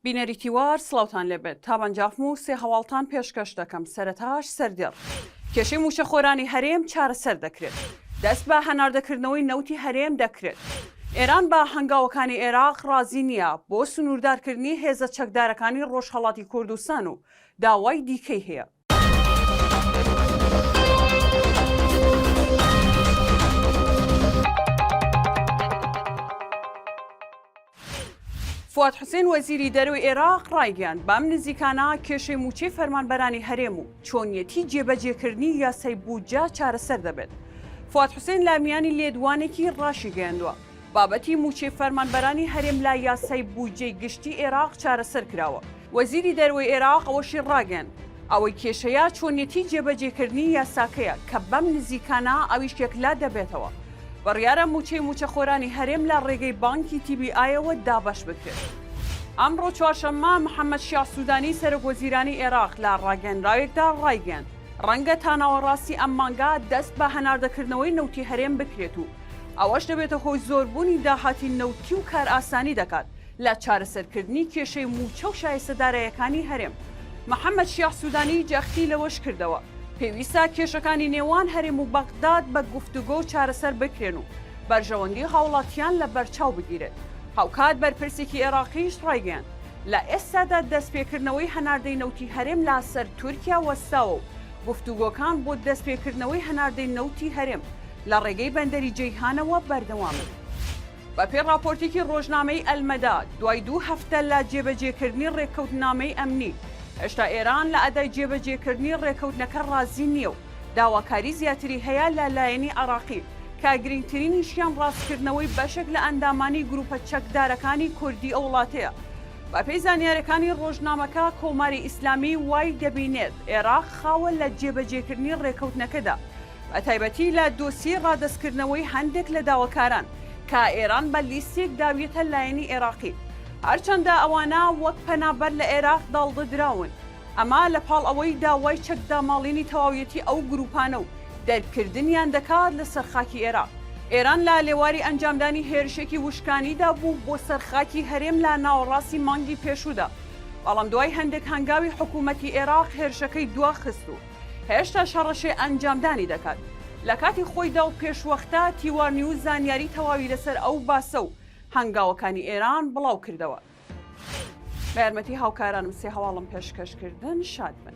بینەری تیوار سڵاوتان لێبێت تابەنجاخم و سێ هەواڵتان پێشکەش دەکەم سەرەتاش سەردێڕ کێشەی مووچەخۆرانی هەرێم چارەسەر دەکرێت دەست بە هەناردەکردنەوەی نەوتی هەرێم دەکرێت ئێران بە هەنگاوەکانی ئێراق ڕازی نییە بۆ سنووردارکردنی هێزە چەکدارەکانی ڕۆژهەڵاتی کوردستان و داوای دیکەی هەیە. فواد حوسێن وەزیری دەروی عێراق ڕایگەیاند بەم نزیکانە کێشەی موچەی فەرمانبەرانی هەرێم و چۆنیەتی جێبەجێکردنی یاسای بودجە چارەسەر دەبێت. فواد حوسێن لە میانی لێدوانێکی ڕاشی گەیاندووە. بابەتی مووچەی فەرمانبەرانی هەرێم لە یاسای بودجەی گشتی ئێراق چارەسەر کراوە. وەزیری دەروەی ئێراق ئەوەشی ڕاگەیاند، ئەوەی کێشەیە چۆنیەتی جێبەجێکردنی یاساکەیە کە بەم نزیکانە ئەویش یەکلا دەبێتەوە. بڕیارە مووچەی مووچەخۆرانی هەرێم لە ڕێگەی بانکی تی بی ئایەوە دابەش بکرێت. ئەمڕۆ چوارشەممە، محەممەد شیاع سوودانی سەرۆکوەزیرانی ئێراق لە ڕاگەیەنراوێکدا ڕایگەیاند، ڕەنگە تا ناوەڕاستی ئەم مانگە دەست بە هەناردەکردنەوەی نەوتی هەرێم بکرێت و ئەوەش دەبێتە هۆی زۆربوونی داهاتی نەوتی و کارئاسانی دەکات لە چارەسەرکردنی کێشەی مووچە و شایستە داراییەکانی هەرێم. محەممەد شیاع سوودانی جەختی لەوەش کردەوە، پێویستە کێشەکانی نێوان هەرێم و بەغداد بە گفتوگۆ چارەسەر بکرێن و بەرژەوەندی هاوڵاتیان لە بەرچاو بگیرێت. هاوکات بەرپرسێکی ئێراقیش ڕایگەیاند، لە ئێستادا دەستپێکردنەوەی هەناردەی نەوتی هەرێم لە سەر تورکیا وەستاوە و گفتوگۆکان بۆ دەستپێکردنەوەی هەناردەی نەوتی هەرێم لە ڕێگەی بەندەری جەیهانەوە بەردەوامن. بەپێی ڕاپۆرتێکی ڕۆژنامەی ئەلمەدا، دوای دوو هەفتە لە جێبەجێکردنی ڕێککەوتنامەی ئەمنی، هێشتا ئێران لە ئەدای جێبەجێکردنی ڕێککەوتنەکە ڕازی نییە و داواکاری زیاتری هەیە لە لایەنی عێراقی کە گرنگترینیشیان ڕاستکردنەوەی بەشێک لە ئەندامانی گرووپە چەکدارەکانی کوردی ئەو وڵاتەیە. بەپێی زانیارییەکانی ڕۆژنامەکە، کۆماری ئیسلامی وای دەبینێت عێراق خاوە لە جێبەجێکردنی ڕێککەوتنەکەدا، بەتایبەتی لە دۆسیەی ڕادەستکردنەوەی هەندێک لە داواکاران کە ئێران بە لیستێک داویەتە لایەنی ئێراقی، هەرچەندە ئەوانە وەک پەنابەر لە ئێراق داڵدەدراون، ئەمە لە پاڵ ئەوەی داوای چەکداماڵینی تەواویەتی ئەو گرووپانە و دەرکردنیان دەکات لەسەر خاکی ئێراق. ئێران لە لێواری ئەنجامدانی هێرشێکی وشکانیدا بوو بۆ سەر خاکی هەرێم لە ناوەڕاستی مانگی پێشوودا، بەڵام دوای هەندێک هەنگاوی حکوومەتی ئێراق هێرشەکەی دواخست و، هێشتاش هەڕەشەی ئەنجامدانی دەکات. لە کاتی خۆیدا و پێشوەختە، تیوا نیوز زانیاری تەواوی لەسەر ئەو باسە و هەنگاوەکانی ئێران بڵاوکردەوە. بە یارمەتی هاوکارانم سێ هەواڵم پێشکەش کردن. شاد بن.